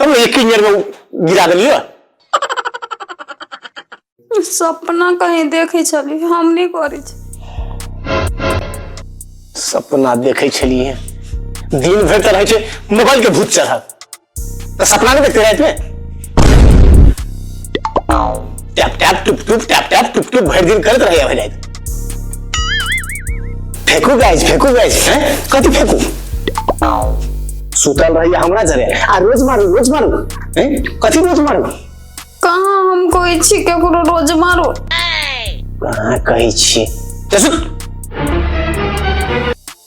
तब ये किन जर में गिरा देलियो सपना कहीं देखे छली हम नहीं करे छी सपना देखे छलिए दिन भर तरह छे मोबाइल के भूत चढ़ल तो सपना नहीं देखते रात में टैप टैप टुप टुप टैप टैप टुप टुप भर दिन करत रहे भर रात फेंकू गाइस फेंकू गाइस हैं कथी फेंकू सुतल रहिए हमरा जरे आ रोज मारू रोज मारू हैं कथी रोज मारू कहाँ हम कोई छी केकरो रोज मारो कहाँ कहै छी चल सुत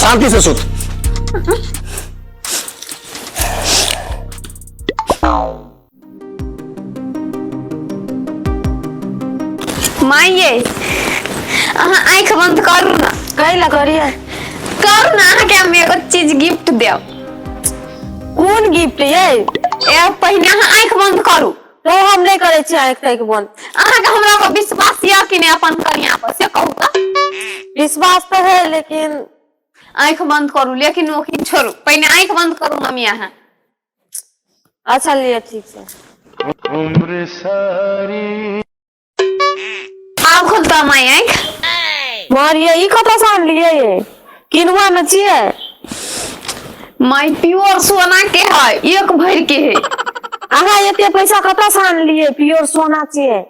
शांति से सुत माई ये अहाँ आँखि बंद करू ना कहे ला करिए करू ना अहाँके हम एगो चीज गिफ्ट देब कौन गिफ्ट ये ए पहिने अहाँ आँखि बंद करू तो हम नहीं करे छी आंख तक बंद अहाँ के हमरा पर विश्वास या कि नहीं अपन कनिया पर से कहू त विश्वास तो है लेकिन आंख बंद करू लेकिन ओखिन छोड़ू पहले आंख बंद करू मम्मी अहाँ अच्छा लिए ठीक है उम्र सारी आब खुद तऽ माय आँखि मारिये ई कतऽ से आनलियै ये किनुआ ने छियै माय प्योर सोना के है एक भर के है अहाँ एते पैसा कतऽ से आनलियै प्योर सोना छियै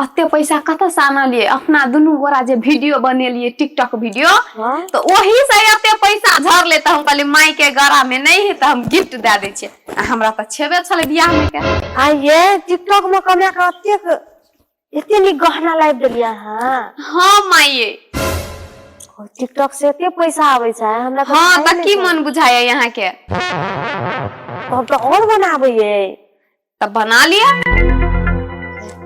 अते पैसा कतऽ से आनलियै अपना दुनू गोरा जे वीडियो बनेलियै टिकटॉक वीडियो हाँ? तऽ ओही से एते पैसा झरले तऽ हम कहलियै माय के गरा में नहीं है तऽ हम गिफ्ट दे दै छियै आ हमरा तऽ छेबे छलै बियाह में के आ ये टिकटॉक में कमरा का अत्यक इतने नी गहना लाइब देलिया हां हां माइये टिकटॉक से एते पैसा आवे छै हमरा तो हां त की मन बुझाया यहां के हम तो और बनाबे ये तब बना लिया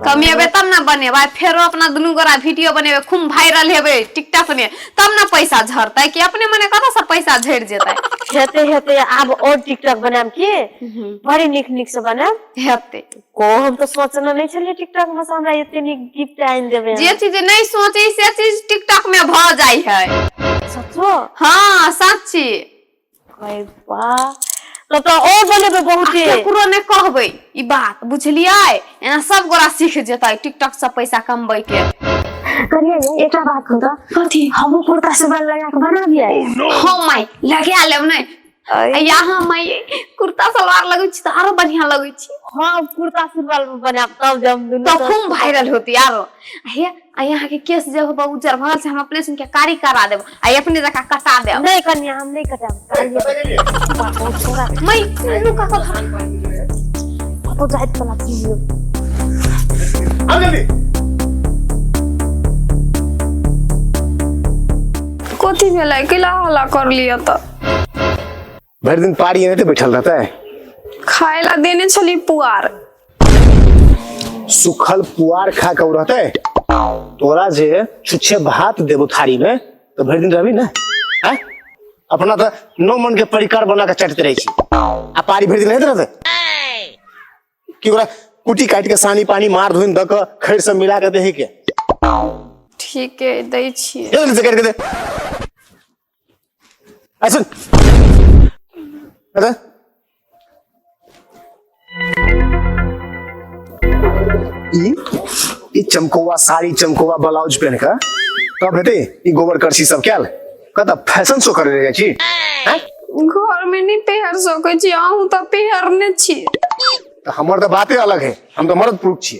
कमेबे तब ना बनेबे फेरो अपना दुनू गोरा वीडियो बनेबे खूब वायरल हेबे टिकटॉक में तब ने पैसा झरतै कि अपने मने कतऽ से पैसा झरि जेतै हेते हेते आब और टिकटॉक बनायब की बड़ी नीक नीक से बनायब हेते ओ हम तो सोचने नहीं छलिए टिकटॉक में से हमरा एते नीक गिफ्ट आइन देबे जे चीज नहीं सोची से चीज टिकटॉक में भ जाई है सचो हां सच्ची अरे वाह तब तो और बनेबे बहुत ही केकरो ने कहबे ई बात बुझलिए एना सब गोरा सीख जेतै टिकटॉक से पैसा कमबै के करिए ये एकटा बात कहू तो कथी हमहू कुर्ता से बल लगा के बना दिया हो माय लगा लेब नै या हम माय कुर्ता सलवार लगै छी त आरो बढ़िया लगै छी हां कुर्ता सलवार बनाब तब जम दुनु तब खूब वायरल होती आरो हे आ यहाँ के केस जे होब उज्जर भऽ गेल से हम अपने सुनके कारी करा देब आ अपने जका कटा देब नहि कन्या हम नहि कटाब मै नु का कथा कतो जाइत पला की हो आ गेली कथी भेलै कैला हल्ला कर लिअ तऽ भरि दिन पारी एनाहिते बैठल रहतै खाय ला देने छली पुआर सुखल पुआर खा के उ रहतै तोरा जे छुच्छे भात देबो थारी में तो भरि दिन रहबी ने हैं? अपना तो नौ मन के परिकार बना के चटते रही छी आ पारी भरि दिन रहते रहते कि ओकरा कुटी काट के सानी पानी मार धोइन द के खैर सब मिला के देही के ठीक है दै छियै जल्दी से कर के दे Action! Action! ई ई चमकोवा साड़ी चमकोवा ब्लाउज पहन के तब हेते ई गोबर करसी सब कैल कत फैशन शो करे रहे छी हैं? घर में नहीं पहर सके छी अहूँ तो पहरने छी त हमर त बाते अलग है हम त मर्द पुरुष छी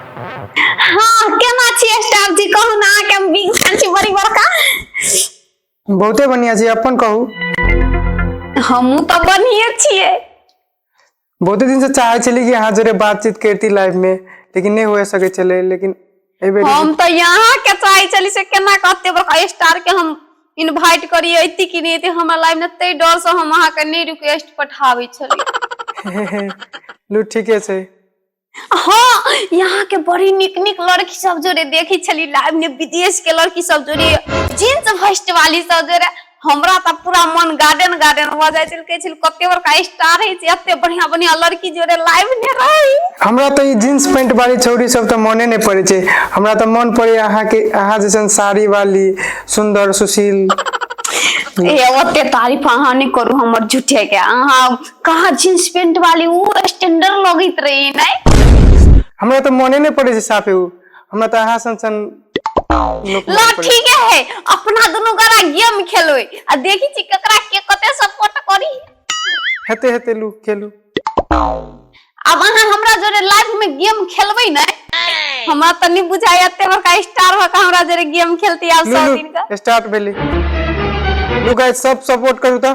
हाँ केना छियै स्टाफ जी कहू ना के हम बिग फैन छी बड़ी बड़का बहुते बढ़िया छी अपन कहू हमहू तो बढ़िए छियै बहुते दिन से चाहे छली कि अहाँ जोरे बातचीत करती लाइफ में लेकिन नहीं हो सके चले लेकिन एहि बेर हम तऽ यहाँ के चाहे छली से केना कहते बड़का स्टार के हम इनवाइट करी अती कि नहीं अती हमरा लाइफ में ते डर से हम अहाँ के नहीं रिक्वेस्ट पठावे छली लू ठीके छै हाँ यहाँ के बड़ी निक निक लड़की सब जोरे देखी छली लाइव में विदेश के लड़की सब जोरे जींस फर्स्ट वाली सब जोरे हमरा तऽ पूरा मन गार्डन गार्डन भऽ जाइ छल कहै छल कते बड़का स्टार होइ छै एते बढ़िया बढ़िया लड़की जोड़े लाइव ने रही हमरा तऽ ई जींस पैंट वाली छौरी सब तऽ मने नहि पड़े छै हमरा तऽ मन पड़े अहाँ के अहाँ जैसन साड़ी वाली सुंदर सुशील ए ओते तारीफ अहाँ नहि करू हमर झूठे के अहाँ कहाँ जींस पैंट वाली ऊ स्टैंडर्ड लगैत रही नहीं हमरा तऽ मने नहि पड़े छै साफे उ हमरा तऽ अहाँ सन सन लोक ला मन पड़ै। ठीक है अपना दोनों गोरा गेम खेलोय आ देखी छी ककरा के कते सपोर्ट करी हेते हेते लू खेलू अब अहाँ हमरा जोरे लाइफ में गेम खेलबै नै हमरा त नै बुझाय एते बड़का स्टार हो के हमरा जोरे गेम खेलती आब लू सब दिन का लू स्टार्ट भेली लू गाइस सब सपोर्ट करू तऽ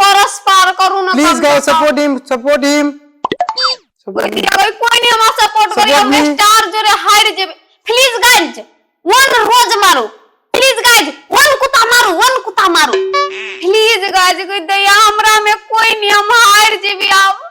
करस पार करू ना please guys support him support him कोई नहीं हमरा सपोर्ट करी हम स्टार जोरे हार जेबे प्लीज गाइस वन रोज मारो प्लीज गाइस वन कुत्ता मारो वन कुत्ता मारो प्लीज गाइस कोई दया हमरा में कोई नहीं हम हार जेबे आओ